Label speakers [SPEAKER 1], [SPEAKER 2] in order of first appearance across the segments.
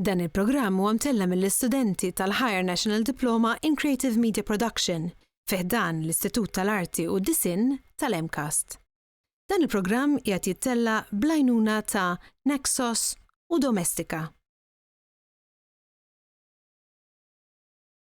[SPEAKER 1] Dan il-programm huwa mtellem mill-istudenti tal-Higher National Diploma in Creative Media Production fi ħdan l-Istitut tal-Arti u d-Disinn tal-MCAST. Dan il-programm qiegħed jittella' bl-għajnuna ta' Naxos u Domestika.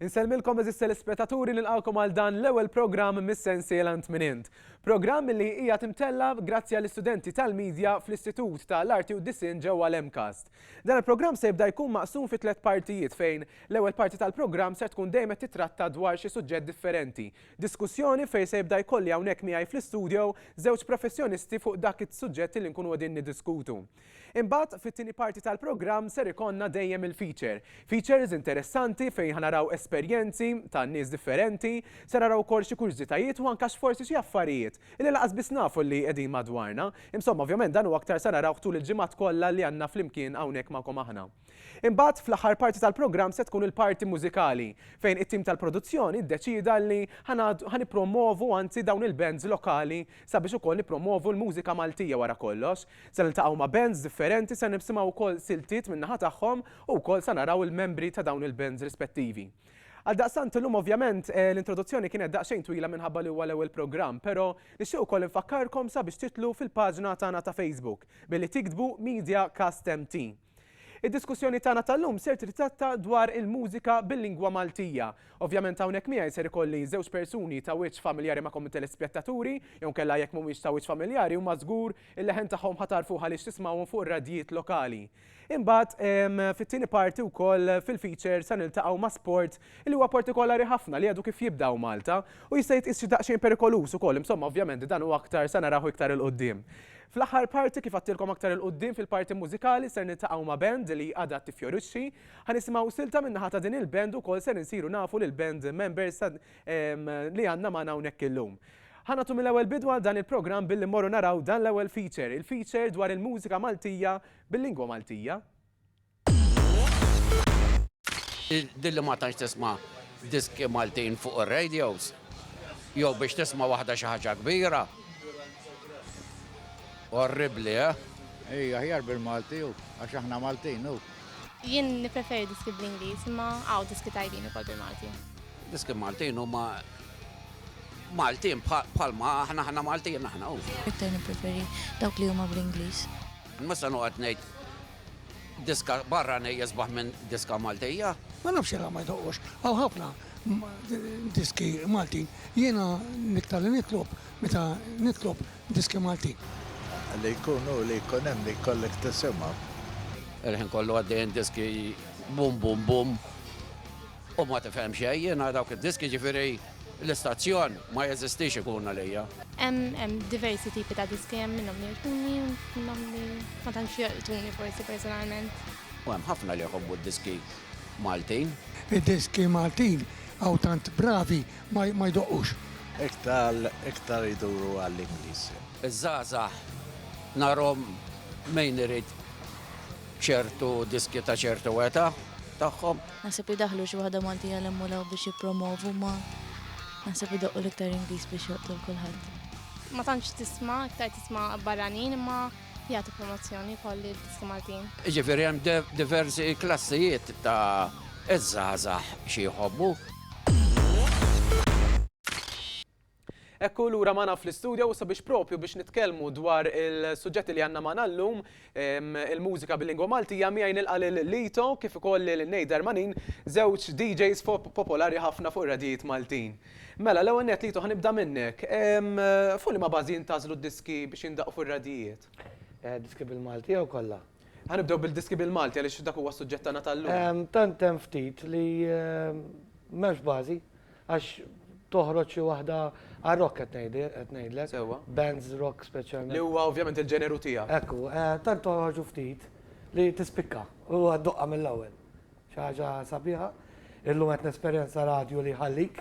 [SPEAKER 2] Insellmilkom eżis telespetaturi nilqawkom għal dan l-ewwel programm mis-sensiela Ntminint. Programm li hija timtella grazzi għall istudenti tal-medja fl-Istitut tal-Arti u Disin ġewwa l-Emcast. Dan il-programm se jibda jkun maqsum fi tliet partijiet fejn l-ewwel parti tal-programm se tkun dejjem titratta dwar xi suġġett differenti Diskussjoni fejn se jibda jkolli hawnhekk miegħi fl-istudio żewġ professjonisti fuq dak is-suġġetti li nkunu qegħdin niddiskutu. Imbagħad, fit-tieni parti tal-programm ser ikollna dejjem il-feature. Features interessanti fejn ħa naraw esperjenzi ta' nies differenti, se naraw ukoll xi kurżitajiet u anke x'forsi xi affarijiet li lanqas biss nafu li qegħdin madwarna. Insomma, ovvjament dan u aktar se narawh tul il-ġimgħat kollha li għandna flimkien hawnhekk magħkom aħna. Imbagħad, fl-aħħar parti tal-programm se tkun il-parti mużikali, fejn it-tim tal-produzzjoni ddeċieda li ħa nippromwovu anzi dawn il-bands lokali sabiex ukoll nippromwovu l-mużika Maltija wara kollox. Se niltaqgħu ma' bands differenti, se nisimgħu wkoll siltiet min-naħa tagħhom u wkoll sa naraw il-membri ta' dawn il-bands rispettivi. Għaldaqstant illum ovvjament l-introduzzjoni kienet daqsxejn twila minħabba li huwa l-ewwel programm, però nixtieq ukoll infakkarkom sabiex titlu fil-paġna tagħna ta' Facebook billi tiktbu Media Cast MT. Id-diskussjoni tagħna tal-lum ser titratta dwar il-mużika bil-lingwa Maltija. Ovvjament hawnhekk miegħi ser ikolli żewġ persuni ta' wiċċ familjari magħkom it-telespjettaturi, jew inkella jekk mhumiex ta' wiċċ familjari huma żgur il-leħen tagħhom ħa tagħrfuh għaliex tismgħuhom fuq ir-radjijiet lokali. Imbagħad fit-tieni parti wkoll fil-feature sa niltaqgħu ma' sport li huwa partikolari ħafna li għadu kif jibda u Malta u jista' jitqies xi daqsxejn perikoluż ukoll, insomma ovvjament dan u aktar se narawh iktar 'il quddiem. Fl-aħħar parti kif għadtilkom aktar 'il quddiem fil-parti mużikali ser niltaqgħu ma' band li għadha tiffjorixxi, ħa nisimgħu silta min-naħa ta' din il-band ukoll ser insiru nafu lill-band members li għandna magħna hawnhekk illum. Ħa nagħtu mill-ewwel bidu għal dan il-programm billi mmorru naraw dan l-ewwel feature, il-feature dwar il-mużika Maltija bil-lingwa Maltija.
[SPEAKER 3] Din li ma tantx tisma' diski Maltin fuq ir-radios, jew biex tisma' waħda xi ħaġa kbira. Orribbli, eh? Ejja,
[SPEAKER 4] aħjar bil-Malti hu, għax aħna Maltin hu. Jien
[SPEAKER 5] nippreferi diski bl-Ingliż, imma hawn diski tajbin ukoll bil-Malti. Diski Maltin
[SPEAKER 3] huma Maltin bħalma aħna aħna Maltin aħna hu. Iktar nippreferi
[SPEAKER 6] dawk li huma bl-Ingliż. Mhux se noqgħod
[SPEAKER 3] ngħid Diska barranej jisbaħ minn diska Maltija? Ma nafx jekk ma
[SPEAKER 7] jdoqqux. Hawn ħafna diski Maltin. Jiena niktar li nitlob meta nitlob diski Maltin. Li jkun
[SPEAKER 4] hu li jkun hemm li jkollok tisimgħu. Il-ħin
[SPEAKER 3] kollu għaddejjin diski bum bum bum u ma tifhem xejn. Jiena dawk id-diski ġifieri. L-istazzjon ma jeżistix ikun għalija. Hemm hemm
[SPEAKER 5] diversi tipi ta' diski, hemm minnhom li jogħġbuni u minnhom li ma tantx jolqtuni forsi personalment. U hemm ħafna
[SPEAKER 3] li jħobbu d-diski Maltin. Id-diski
[SPEAKER 7] Maltin hawn tant bravi ma jdoqqux. Iktar
[SPEAKER 4] iktar iduru għall-Ingliż. Iż-żgħażagħ
[SPEAKER 3] narhom min irid ċertu diskju ta' ċertu età tagħhom. Naħseb li daħlu xi
[SPEAKER 6] waħda Maltija l-hemm u l-hawn biex jippromovu ma naħseb idoqqu l-iktar Ingliż biex joqtu l-kulħadd. Ma tantx
[SPEAKER 5] tisma' iktar tisma' barranin imma jagħtu promozzjoni wkoll lid-diski Maltin. Jiġifieri hemm
[SPEAKER 3] diversi klassijiet ta' iż-żgħażagħ xi jħobbu.
[SPEAKER 2] Hekk hu lura magħna fl-istudio u sabiex propju biex nitkellmu dwar il-suġġetti li għandna magħna llum, il-mużika bil-lingwa Maltija, miegħi nilqa' lil Lito kif ukoll lil Nate Darmanin, żewġ DJs popolari ħafna fuq ir-radjijiet Maltin. Mela, l-ewwel nett Lito ħa nibda minnek. Fuq liema bażi jintgħażlu d-diski biex jindaqqu fir-radjijiet? Diski
[SPEAKER 8] bil-Malti jew kollha? Ħa nibdew bil-diski
[SPEAKER 2] bil-Malti għaliex dak huwa s-suġġett tagħna tal-lum. Tant
[SPEAKER 8] hemm ftit li m'hemmx bażi għax toħroġ xi waħda għal rock qed ngħidi qed ngħidlek. Sewwa. Bands
[SPEAKER 2] rock
[SPEAKER 8] speċjalment. Li huwa ovvjament il-ġeneru
[SPEAKER 2] tiegħek. Hekk hu, tant
[SPEAKER 8] toħorġu ftit li tispikka u ddoqqa mill-ewwel. Xi ħaġa sabiħa. Illum qed nesperjenza radju li jħallik,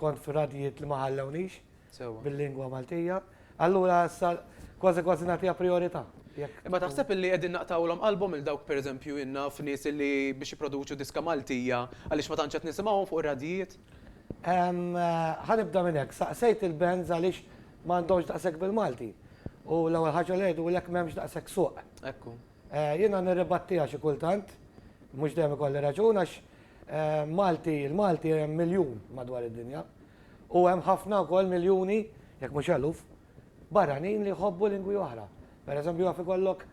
[SPEAKER 8] kont f'radjijiet li ma ħallewnix. Sewwa. Bil-lingwa
[SPEAKER 2] Maltija,
[SPEAKER 8] allura issa kważi kważi nagħtiha prijorità. Jekk. Imma taħseb
[SPEAKER 2] illi qegħdin naqtgħulhom qalbhom lil dawk pereżempju jien naf nies illi biex jipproduċu diska Maltija għaliex ma tantx qed nisimgħuhom fuq ir-radjijiet? Ħa nibda
[SPEAKER 8] minn hekk. Saqsejt il-bands għaliex ma għandhomx daqshekk bil-Malti. U l-ewwel ħaġa li għidulek m'hemmx daqshekk suq. Ekku.
[SPEAKER 2] Jiena
[SPEAKER 8] nirribattiha xi kultant, mhux dejjem ikolli raġun għax Malti, il-Malti hemm miljun madwar id-dinja u hemm ħafna wkoll miljuni, jekk mhux eluf, barranin li jħobbu lingwi oħra. Per eżempju jaf ikollok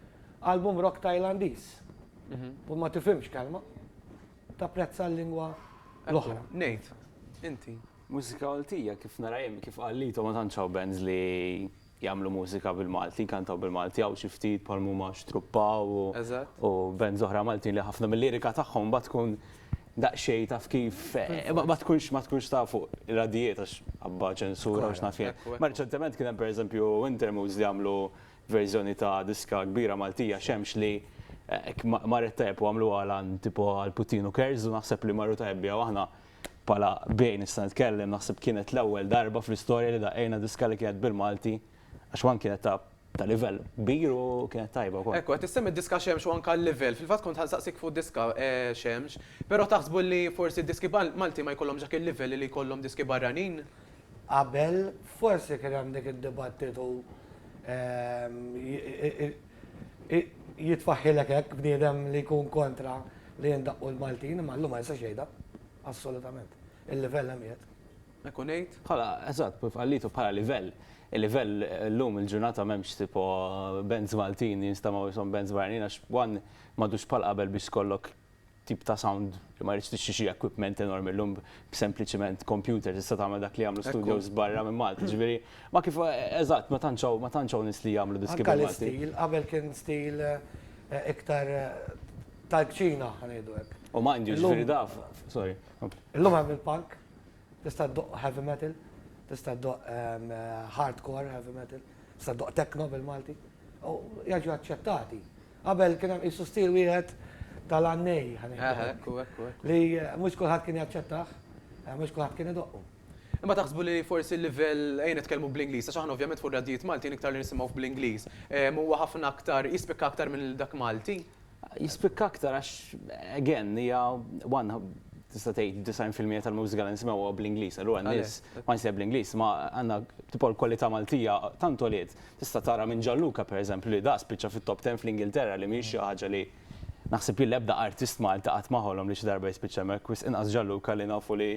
[SPEAKER 8] album rock Tajlandiż u ma tifhimx kelma, tapprezza l-lingwa l-oħra. Ngħid,
[SPEAKER 2] inti. Mużika Maltija
[SPEAKER 9] kif nara jien, kif qal Lito ma tantx hawn bands li jagħmlu mużika bil-Malti, jkantaw bil-Malti, hawn xi ftit bħal huma Xtruppa u u bands oħra Maltin li ħafna mil-lirika tagħhom imbagħad tkun daqsxejn taf kif ma tkunx ma tkunx taf fuq ir-radjijiet għax għabba ċensura u x'naf jien. Ma riċentement kien hemm pereżempju Wintermoods li għamlu verżjoni ta' diska kbira Maltija Xemx li marret tajjeb u għamluha għal tipo għal Putin u Kerz u naħseb li marru tajjeb biha u aħna Bħala bej nista' nitkellem, naħseb kienet l-ewwel darba fl-istorja li daqqejna diska li kienet bil-Malti għax one kienet ta' ta' livell kbir u kienet tajba wkoll. Ekku, qed issemmi d-diska Xemx
[SPEAKER 2] u anke l-livell. Fil-fatt kont ħa nsaqsik fuq diska Xemx, però taħsbu li forsi d-diski Malti ma jkollhomx dak il-livell li jkollhom diski barranin? Qabel
[SPEAKER 8] forsi kien hemm dik id-dibattitu Jitfaħħilek hekk bniedem li jkun kontra li jindaqqu l-Maltin, imma llum ma jistax jgħidha. Assolutament. Il-livell hemm qiegħed. Hekk u ngħid.
[SPEAKER 2] Bħala, eżatt, kif
[SPEAKER 9] qallitu, bħala livell. Il-livell llum il-ġurnata m'hemmx tipo bands Maltin jinstamaw ishom bands barranin għax one m'għadux bħal qabel biex tkollok tip ta' sound li ma jridx tixtri xi equipment enormi llum b'sempliċiment computer tista' tagħmel dak li jagħmlu studios barra minn Malta. Jiġifieri ma kif eżatt ma tantx hawn ma tantx hawn nies li jagħmlu diski bil-Malti. Anke l-istil, qabel
[SPEAKER 8] kien stil iktar tal-kċina ħa ngħidu hekk. U mind you, jiġifieri daf,
[SPEAKER 9] sorry, kompli. Illum hemm
[SPEAKER 8] il-punk, Tista' ddoqq heavy metal, tista' ddoqq hardcore heavy metal, tista' ddoqq techno bil-Malti, u jiġu aċċettati. Qabel kien hemm qisu stil wieħed tal-għannej, ħa ngħidu hekk. Hekk u hekk
[SPEAKER 2] u hekk. Li
[SPEAKER 8] mhux kulħadd kien jaċċettah, mhux kulħadd kien idoqqu. Imma taħsbu li
[SPEAKER 2] forsi l-livell, ejja nitkellmu bl-Ingliż, għax aħna ovvjament fuq r-radjijiet Maltin iktar li nisimgħuh bl-Ingliż, huwa ħafna aktar, jispikka aktar minn dak Malti? Jispikka aktar
[SPEAKER 9] għax again hija one tista' tgħid 90% tal-mużika li nisimgħuha bl-Ingliż. Allura n-nies ma jsejħ bl-Ingliż ma għandna tipo l-kwalità Maltija tant għoliet. Tista' tara minn Gianluca pereżempju li da spiċċa fit-top ten fl-Ingilterra li mhijiex xi ħaġa li naħseb jien l-ebda artist Malti qatt ma ħolom li xi darba jispiċċa hemmhekk wisq inqas Gianluca li nafu li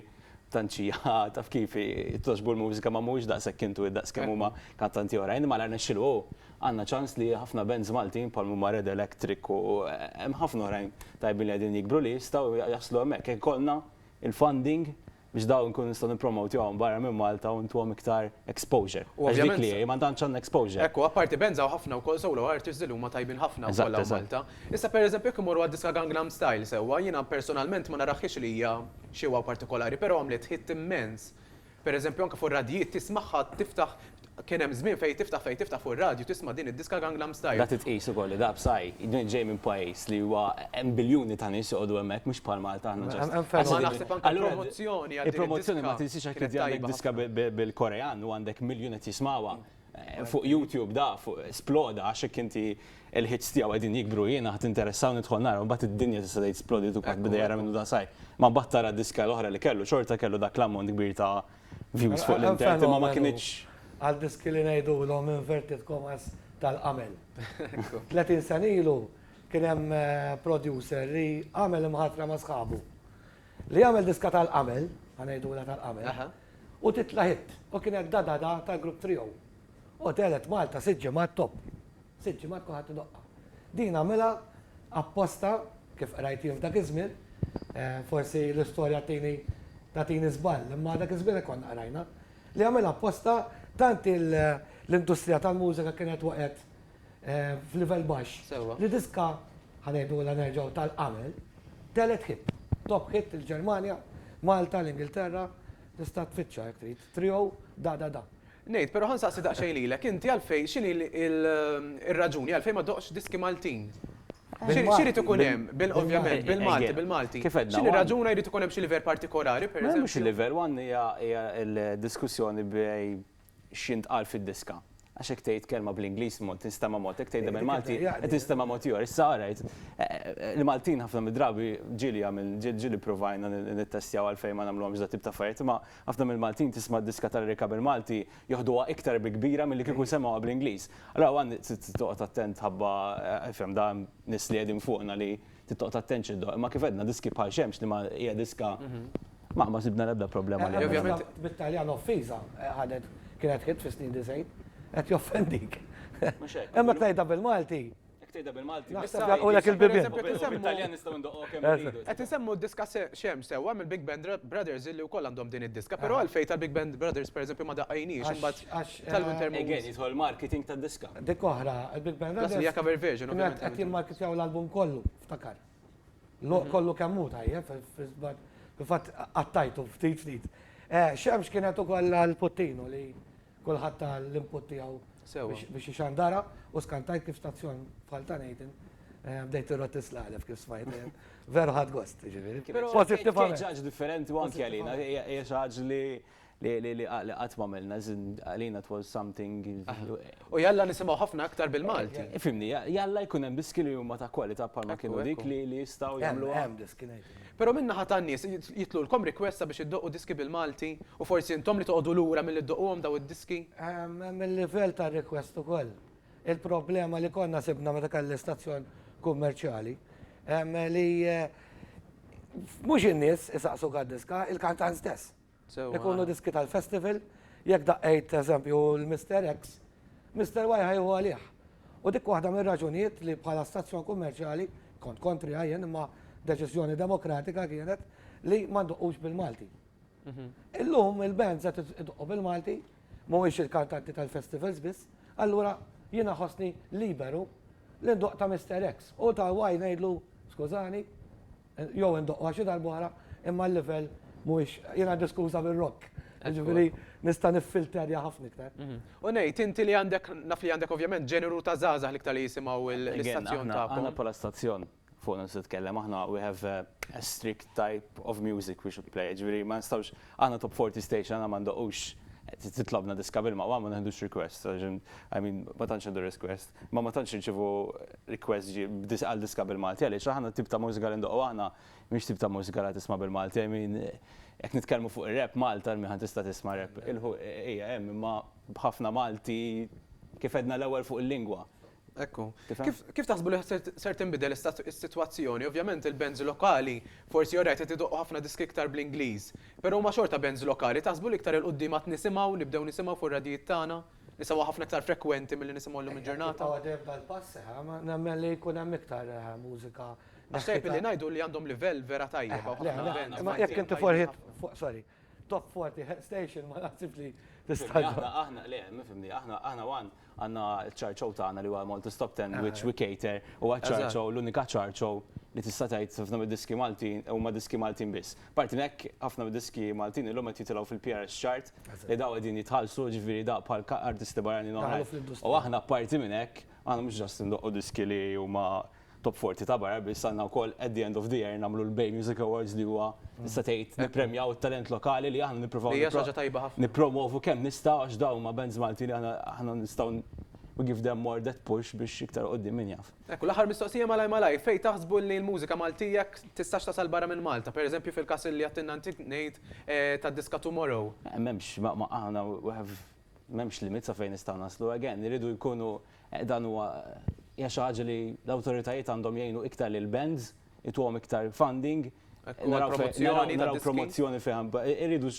[SPEAKER 9] tant xi taf kif togħġbu l-mużika ma mhuwiex daqshekk intuwit daqs kemm huma kantanti oħrajn imma la rnexxielu hu. Għandna ċans li ħafna bands Maltin bħal huma Red Electric u hemm ħafna oħrajn tajbin li qegħdin jikbru li jistgħu jaslu hemmhekk jekk ikollna il-funding biex dawn inkunu nistgħu nippromotjhom barra minn Malta u ntuhom iktar exposure. Għax dik li hi, ma tantx għandna exposure. Hekk hu, apparti bands hawn
[SPEAKER 2] ħafna wkoll solo artists li huma tajbin ħafna wkoll hawn Malta. Issa pereżempju jekk immorru għad-diska Gangnam Style sewwa, jiena personalment ma narahhiex li hija xi wow partikolari, però għamlet hit immens. Per eżempju anke fuq ir-radjijiet tismagħha tiftaħ kien hemm żmien fejn tiftaħ fejn tiftaħ fuq ir-radju tisma' din id-diska Gangnam Style. La titqis ukoll li da
[SPEAKER 9] Psy ġej minn pajjiż li huwa hemm biljuni ta' nies joqogħdu hemmhekk mhux bħal Malta aħna ġast. Imma naħseb anke l-promozzjoni għal din id-diska
[SPEAKER 2] kienet tajba ħafna. Il-promozzjoni ma tinsiex jekk tiddi
[SPEAKER 9] għandek diska bil-Korean u għandek miljun qed jismagħha Fuq YouTube da fuq sploda għax hekk inti l-hits tiegħu qegħdin jikbru jiena ħadd interessaw nidħol nara mbagħad id-dinja tista' tgħid splodiet u kulħadd beda jara minnu da sajf. Ma mbagħad tara d-diska l-oħra li kellu xorta kellu dak l-ammont kbir ta' views fuq l-internet imma ma kinitx. Għal diski li
[SPEAKER 8] ngħidulhom inverted commas tal-qamel. 30 sena ilu kien hemm producer li għamel imħatra ma' sħabu li jagħmel diska tal-qamel, ħa ngħidulha tal-qamel, U titla' hit. U kien hekk Da Da Da tal-grupp Trio. U telgħet Malta sitt ġimgħat top. Sitt ġimgħat kulħadd idoqqha. Din għamilha apposta, kif qrajt jien f'dak iż-żmien, forsi l-istorja tgħini tagħtini żball, imma dak iż-żmien hekk konna qrajna, li għamilha apposta tant l-industrija tal-mużika kienet waqgħet f'livell baxx. Sewwa. Li diska, ħa ngħidulha nerġgħu tal-qabel, telet hit. Top hit il-Ġermanja, Malta, l-Ingilterra, tista' tfittxha jekk trid. Trio da da da. Ngħid, però
[SPEAKER 2] ħa nsaqsi daqsxejn lilek, inti għalfejn, x'inhi l-raġuni għalfejn ma ddoqtx diski Maltin? Xi jrid ikun hemm, ovvjament, bil-Malti, bil-Malti. Kif għedna. X'inhi r-raġuna jrid ikun hemm xi livell partikolari, pereżempju? Le mhux il-livell, one
[SPEAKER 9] hija l-diskussjoni bejn x'jintqal fid-diska. Għax hekk tgħid kelma bl-Ingliż mod, tinstema' mod, hekk tgħidha bil-Malti qed tinstema' mod ieħor. Issa ara, il-Maltin ħafna mid-drabi, ġieli għamil, ġieli ppruvajna nittestjaw għalfejn ma nagħmluhomx dat-tip ta' affarijiet, imma ħafna mill-Maltin tisma' diska tal-Erika bil-Malti joħduha iktar bi kbira milli kieku semgħuha bl-Ingliż. Allura hawn trid toqgħod attent ħabba, ifhem, da hemm nies li qegħdin fuqna li. Trid toqgħod attent xi ddoqq, imma kif għedna diski bħal xemx li ma hija diska ma ma sibna l-ebda problema li għamilna. Bit-Taljan
[SPEAKER 8] offiża ħadet kienet hit fis-snin disgħin. Qed joffendik. Mhux hekk. Imma jekk tgħidha bil-Malti. Jekk tgħidha bil-Malti.
[SPEAKER 9] Naħseb jagħlqulek il-bibien.
[SPEAKER 8] Bit-Taljan nistgħu
[SPEAKER 9] ndoqqu kemm irridu. Qed insemmu d-diska
[SPEAKER 2] Xemx sewwa mill-Big Band Brothers illi wkoll għandhom din id-diska, però għalfejn tal-Big Band Brothers pereżempju ma daqqejniex imbagħad. Għax tal-winter mood. Again, jidħol marketing
[SPEAKER 9] tad-diska. Dik oħra, il-Big
[SPEAKER 8] Band Brothers. Plus li hija cover version, ovvjament.
[SPEAKER 2] Qed jimmarketjaw
[SPEAKER 8] l-album kollu, ftakar. Kollu kemm hu tajjeb, fil-fatt qattajtu ftit ftit. Xemx kienet ukoll l-puttinu li kulħadd ta l-input tiegħu biex ixandara u skantajt kif stazzjon bħal ta' Nathan bdejt irrott is-slalef kif smajt. Veru ħadt gost, jiġifieri. Pożittivament. Kien ġaġġ
[SPEAKER 9] differenti u anke għalina, hija xi ħaġa li. li li li li qatt m'għamilna as in għalina it was something U jalla
[SPEAKER 2] nisimgħu ħafna aktar bil-Malti. Fhimni, jalla
[SPEAKER 9] jkun hemm diski li huma ta' kwalità bħalma kienu dik li li jistgħu jagħmluha. Hemm, hemm diski ngħidilek.
[SPEAKER 8] Però min-naħa tan-nies,
[SPEAKER 2] jitlulkom request sabiex iddoqqu diski bil-Malti u forsi intom li toqogħdu lura milli ddoqquhom dawn id-diski? Hemm, hemm il-livell
[SPEAKER 8] tar-request ukoll. Il-problema li konna sibna meta kelli stazzjon kummerċjali, li mhux in-nies isaqsuk għad-diska, il-kantant stess. Ikunu diski tal-festival, jekk daqqejt eżempju l-Mister X, Mister Y ħa jieħu għalih. U dik waħda mir-raġunijiet li bħala stazzjon kummerċjali, kont kontriha jien imma deċiżjoni demokratika kienet, li ma ndoqqux bil-Malti. Illum il-bands qed idoqqu bil-Malti, mhuwiex il-kantanti tal-festivals biss, allura jiena ħossni liberu li ndoqq ta' Mister X u ta' Y ngħidlu skużani, Jew indoqqha xi darba oħra, imma l-livell mhuwiex, jiena għandi skuża bir-rock, jiġifieri nista' niffilterja ħafna iktar. U ngħid, inti
[SPEAKER 2] li għandek, naf li għandek ovvjament ġeneru ta' żgħażagħ l-iktar li jisimgħu l-istazzjon tagħkom. Aħna bħala stazzjon,
[SPEAKER 9] fuqna nista' nitkellem, aħna we have a strict type of music we should play, jiġifieri ma nistgħux, aħna top 40 station, aħna ma ndoqqux, titlobna diska bil-maqwa ma neħdux requests, I mean ma tantx nieħdu requests. Ma ma tantx nirċievu request ġi għal diska bil-Malti għaliex aħna t-tip ta' mużika li ndoqqu aħna mhix tip ta' mużika li tisma' bil-Malti. I mean jekk nitkellmu fuq ir-rap Malta min ħa tista' tisma' rap il-ħu hija hemm imma b'ħafna Malti kif għedna l-ewwel fuq il-lingwa. Hekk hu.
[SPEAKER 2] Kif taħsbu li ser tinbidel is-sitwazzjoni? Ovvjament il-bands lokali forsi alright qed idoqqu ħafna diski iktar bl-Ingliż. Però huma xorta bands lokali. Taħsbu li iktar 'il quddiem għad nisimgħu nibdew nisimgħu fuq ir-radjijiet tagħna Issa huwa ħafna iktar frekwenti milli nisimgħu llum il-ġurnata. Jekk jibqgħu għaddejja b'dal pass,
[SPEAKER 8] nemmen li jkun hemm iktar mużika neħħita. Għax tajjeb li ngħidu
[SPEAKER 2] li għandhom livell vera tajjeb hawn ħafna events. Imma jekk inti forħiet
[SPEAKER 8] fuq, sorry, Top 40 Hit Station ma naħsibx li tista' ġġib. Aħna,
[SPEAKER 9] le, mifhimni, aħna għandna ċ-chart show tagħna li huwa Malta's Top Ten which we cater, huwa ċ-chart show, l-unika chart show li tista' tgħid ħafna mid-diski Maltin huma diski Maltin biss. Apparti minn hekk, ħafna mid-diski Maltin illum qed jitilgħu fil-PRS chart li dawn qegħdin jitħallsu, ġifieri dawn bħal artisti barranin oħrajn. Daħlu fl-industrija. U aħna apparti minn hekk, aħna mhux just indoqqu diski li huma top 40 ta' barra biss, għandna wkoll at the end of the year nagħmlu l-Bay Music Awards li huwa tista' tgħid nippremjaw it-talent lokali li aħna nippruvaw. Li hija xi ħaġa tajba ħafna. Nippromovu kemm nistgħu għax dawn huma bands Maltin li aħna nistgħu we give them more that push biex iktar 'l quddiem min jaf. Hekk, u l-aħħar mistoqsija malajr
[SPEAKER 2] malajr, fejn taħsbu li l-mużika Maltija tistax tasal barra minn Malta, per eżempju fil-każ li għedtilna inti ngħid tad-diska Tomorrow? M'hemmx, aħna
[SPEAKER 9] we have, m'hemmx limit sa fejn nistgħu naslu, again, iridu jkunu, dan huwa, hija xi ħaġa li l-awtoritajiet għandhom jgħinu iktar lill-bands, ituhom iktar funding, naraw promozzjoni, naraw promozzjoni fejn, iridu,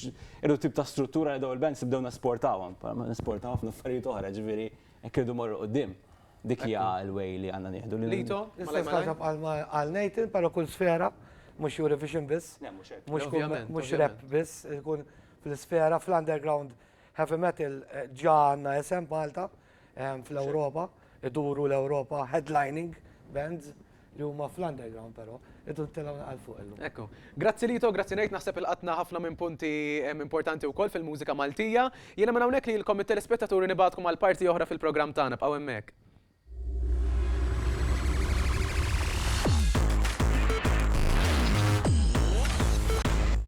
[SPEAKER 9] iridu tip ta' struttura li dawn il-bands nibdew nesportawhom, nesportaw ħafna affarijiet oħra, ġifieri hekk iridu mmorru quddiem. Dik hija l-way li għandna nieħdu. Lito? L-istess ħaġa
[SPEAKER 2] bħalma
[SPEAKER 8] qal Nathan, però kull sfera, mhux Eurovision biss. Le mhux hekk. Mhux kull mhux rap biss, ikun fl-isfera, fl-underground heavy metal ġa għandna isem Malta fl-Ewropa, iduru l-Ewropa headlining bands li huma fl-underground però, irdu nitilgħu naqra 'l fuq illum. Hekk hu. Grazzi Lito,
[SPEAKER 2] grazzi ngħid, naħseb ilqatna ħafna minn punti importanti wkoll fil-mużika Maltija. Jiena minn hawnhekk lilkom it-telespettaturi nibgħatkom għal parti oħra fil-programm tagħna, bqgħu hemmhekk.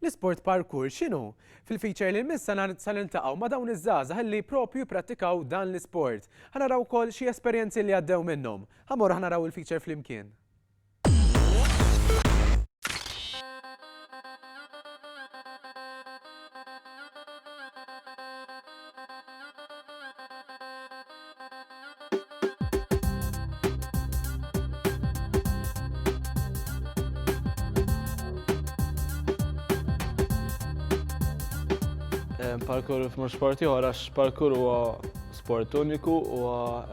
[SPEAKER 2] L-isport parkour x'inhu? Fil-feature li jmiss sa niltaqgħu ma' dawn iż-żgħażagħ illi propju jipprattikaw dan l-isport. Ħa naraw ukoll xi esperjenzi li għaddew minnhom. Ħa mmorru ħa naraw il-feature flimkien.
[SPEAKER 10] parkour f'mur sporti ieħor għax parkour huwa sport uniku huwa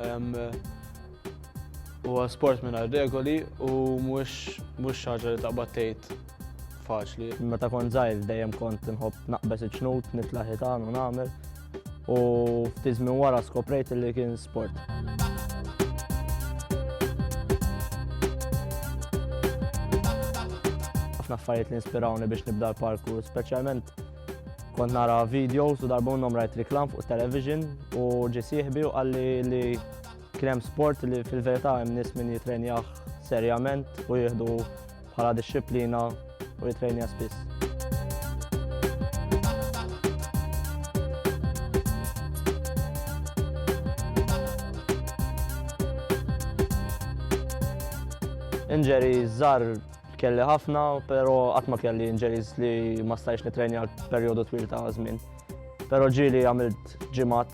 [SPEAKER 10] huwa sport mingħajr regoli u mhux mhux ħaġa li taqbad tgħid faċli. Meta kont żgħir
[SPEAKER 11] dejjem kont inħobb naqbeż iċ-ċnut, nitla' ħitan u nagħmel. u ftit minn wara skoprejt li kien sport. ħafna affarijiet li inspirawni biex nibda l-parkour, speċjalment kont nara videos u darba minnhom rajt reklam fuq television u ġi sieħbi u qalli li kien hemm sport li fil-verità hemm nies min jitrenjah serjament u jieħdu bħala dixxiplina u jitrejnija spiss. Inġeri żar kelli ħafna, pero qatt ma kelli inġeris li ma stajx nitrejni għal perjodu twil ta' żmien. Pero ġieli għamilt ġimat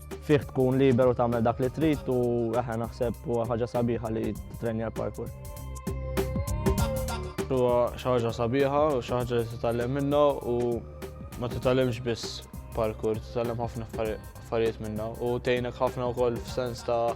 [SPEAKER 11] Fih tkun liberu tagħmel dak li trid u eħe naħseb huwa ħaġa sabiħa li titrenja l-parkour.
[SPEAKER 10] Huwa xi ħaġa sabiħa u xi ħaġa li titgħallem minnha u ma titgħallimx biss parkour, titgħallem ħafna affarijiet minnha u tgħinek ħafna wkoll f'sens ta'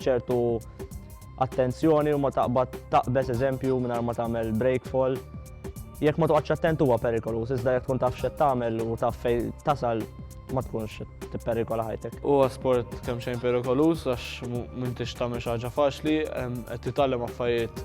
[SPEAKER 11] ċertu attenzjoni u ma taqbad taqbeż eżempju mingħajr ma tagħmel breakfall. Jekk ma toqgħodx attent huwa perikolu, iżda jekk tkun taf x'qed tagħmel u taf fej tasal ma tkunx tipperikola ħajtek. Huwa sport kemm
[SPEAKER 10] xejn perikolus għax m'intix tagħmel xi ħaġa faċli, qed titgħallem affarijiet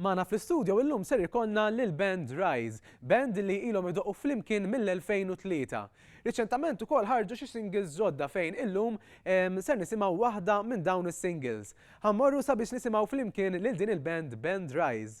[SPEAKER 2] Mana fl-istudio illum ser ikonna lil band Rise, band li ilhom idoqu flimkien mill-2003. Riċentament ukoll ħarġu xi singles ġodda fejn illum ser nisimgħu waħda minn dawn is-singles. Ħammorru sabiex nisimgħu flimkien lil din il-band Band Rise.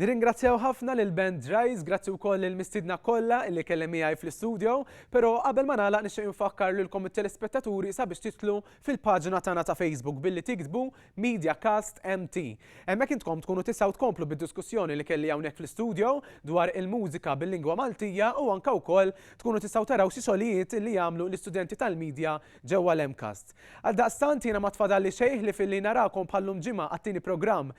[SPEAKER 2] Nirringrazzjaw ħafna lil band Dries, grazzi wkoll lil mistiedna kollha li kellem miegħi fl-istudio, però qabel ma nagħlaq nixtieq infakkar lilkom it-telespettaturi sabiex titlu fil-paġna tagħna ta' Facebook billi tiktbu Mediacast MT. Hemmhekk intkom tkunu tistgħu tkomplu bid-diskussjoni li kelli hawnhekk fl-istudio dwar il-mużika bil-lingwa Maltija u anke wkoll tkunu tistgħu taraw xi xogħlijiet li jagħmlu l-istudenti tal-Media ġewwa l-MCAST. Għaldaqstant jiena ma tfadalli xejn ħlief illi narakom bħal-lum ġimgħa għat-tieni programm